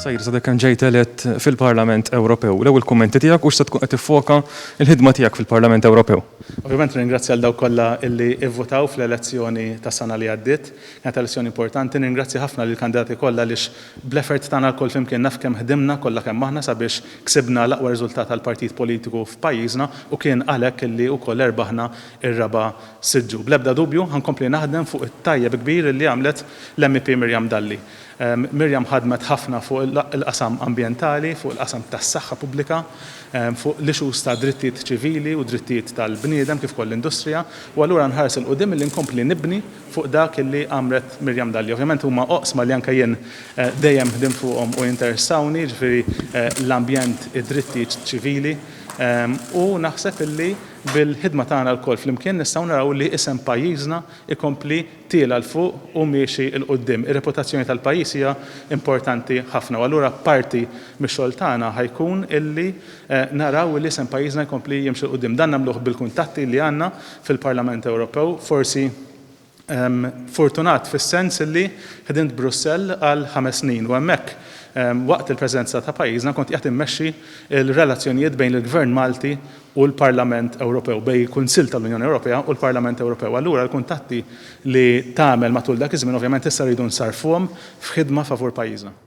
Sajr, sa kemm ġejt elett fil-Parlament Ewropew, l-ewwel kummenti tiegħek u x'se tkun qed tiffoka l-ħidma tiegħek fil-Parlament Ewropew? Ovvjament nirringrazzja lil dawk kollha li vvutaw fl-elezzjoni tas-sena li għaddiet. Kienet elezzjoni importanti. Nirringrazzja ħafna lill-kandidati kollha għaliex bl-effort tagħna lkoll flimkien naf kemm ħdimna kollha kemm aħna sabiex ksibna l-aqwa riżultat għall-partit politiku f'pajjiżna u kien għalhekk li wkoll erbaħna ir-raba' siġġu. Bl-ebda dubju ħa nkompli naħdem fuq it-tajjeb kbir li għamlet l-MEP Miriam Dalli. Miriam ħadmet ħafna fuq il-qasam ambjentali, fuq il-qasam tas-saħħa pubblika, fuq l-issues ta' drittijiet ċivili u drittijiet tal-bniedem kif ukoll l-industrija u allura nħares 'il quddiem milli nkompli nibni fuq dak li għamlet Miriam Dalli. Ovvjament huma oqsma li anke jien dejjem ħdimt fuqhom u jinteressawni, jiġifieri l-ambjent, id-drittijiet ċivili u naħseb li Bil-ħidma tagħna lkoll flimkien nistgħu naraw li isem pajjiżna jkompli tiela' 'l fuq u miexi 'l quddiem. Ir-reputazzjoni tal-pajjiż hija importanti ħafna u allura parti mix-xogħol tagħna ħa jkun illi naraw illi isem pajjiżna jkompli jimxi 'l quddiem. Dan nagħmluh bil-kuntatti li għandna fil-Parlament Ewropew, forsi, Fortunat fis-sens li ħdimt Brussell għal ħames snin u hemmhekk, waqt il-Presidenza ta' pajjiżna, kont qiegħed immexxi l-relazzjonijiet bejn il-Gvern Malti u l-Parlament Ewropew, bejn il-Kunsill tal-Unjoni Ewropea u l-Parlament Ewropew. Allura l-kuntatti li tagħmel matul dak iż-żmien ovvjament issa rridu nsarrfuhom f'ħidma favur pajjiżna.